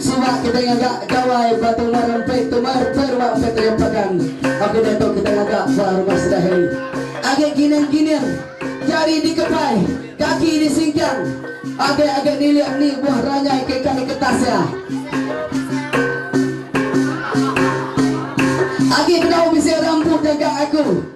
Sida kitai ngaga Gawai ba Tumar Empit Tumar pia rumah Empit Ayam Pagan Au kitai tu kitai ngaga ba rumah Sedahing agi gining gining Jari di kepai Kaki di singkang Agi agi nilik ni buah ranyai ke ka di ketas ya Agi bedau bisi orang empu jangkang aku.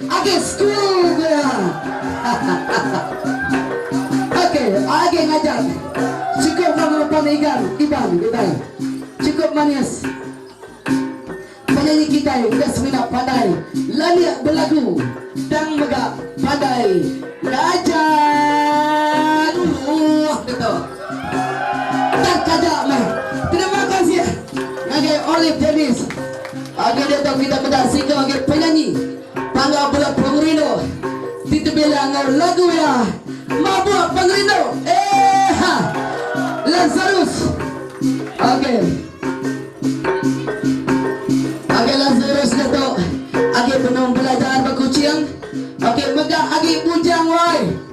Agi school pia hahaha ok agi ngajar cukup ba ngelupan igan iban kitai cukup manis penyanyi kitai udah semina pandai lanik belagu tang mega pandai ngajar uluh ke tu tang kaja meh terima kasih. Ngagai Olive Dennis agi diatu kita meda siko agi penyanyi Panggau Bela Pengerindu ti tebilang enggau lagu iya Mabuk Pengerindu eha Lazarus ok ok Lazarus diatu agi benung belajar ba Kuching ok mega agi bujang wai.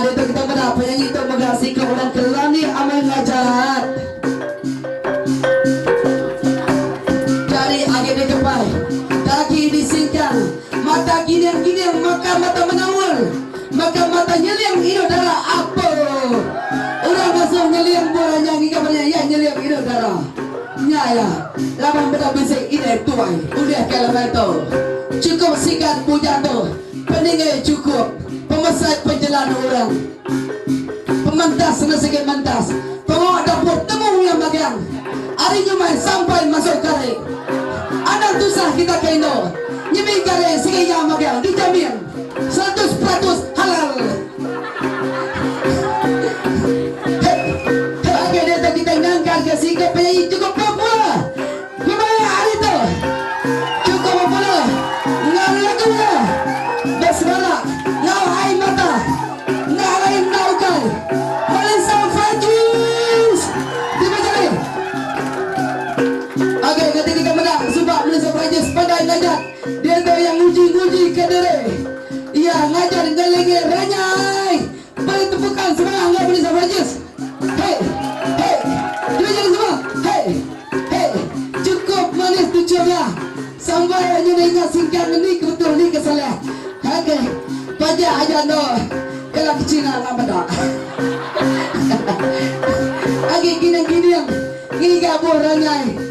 Ditu kita meda penyanyi tu mega siko orang ke lanik amai ngajat. Jari agi dikepai, kaki disingkang, mata gining-gining maka mata menaul, maka mata nyeling indu dara apo. Orang ngasuh nyeling buah ranyau ngiga banya iya nyeling indu dara. Nya iya, laban meda bisi inai tuai ulih ke lemai tu. Chukup sigat bujang tu. Peningai chukup, pemesai penjelan orang. Pementas enda sigi mentas, pengawa dapur temu iya magang. Ari nyumai sampai masuk garing. Anang tusah kita ke indu, nyemik garing sigi iya magang dijamin seratus peratus halal. Heh, heh agak diatu kita ngangkar ke singkup penyanyi chukup popular. Kebaya ari tu chukup bepala enggau lagu iya besebara enggau ai mata enda alai enda ukai Holland Sound Frankies ti bejari agi ke tindika meda suba mensia Perancis pandai ngajat diatu iya nguji-ngujika diri iya ngajar ngelingi renyai Beri tepukan semangat enggau Melissa Burgess. Hey. Hey. Cuba jadi semua. Hey. Hey. Cukup manis tu coba. Sampai anyu enda ingat singkang endi ke betul endi ke salah. Ok. Pajak aja endo kala ke China enggau meda. Agi kining-kining ngiga buh rangai.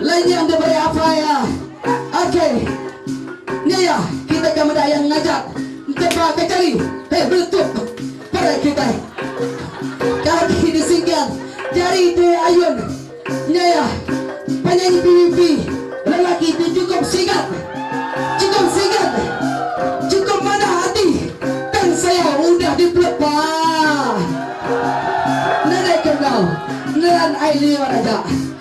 Lain nya enda beri apai iya. Ok. Nya iya, kitai ka meda iya ngajat entepa ka jari. Hei beletup. Parai kitai. Kaki disingkang, jari di ayun. Nya iya, penyanyi PVP lelaki ti chukup sigat. Chukup sigat. Chukup manah ati. Tang saya udah di pelepa. Nadai ke enggau. Nelan ai liur aja.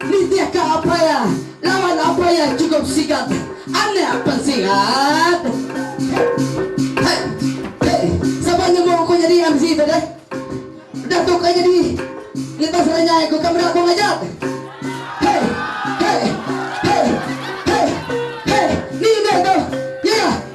Nitihka Apaya lawan Apaya cukup sigat anak pan sigat. He he sapa nemu ku nyadi MC tu deh. Udah tu ka nyadi ngetas renyai ku ka meda ku ngajat. He he he he he ni be tu. Ye yah.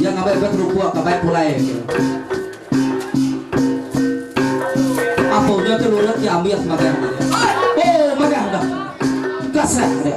Iya ngabai bek rupa ka bai pulai ke. Apa unya tu lurut ke ambil sebagai hamba dia. Oh, madah dah. Kasat dia.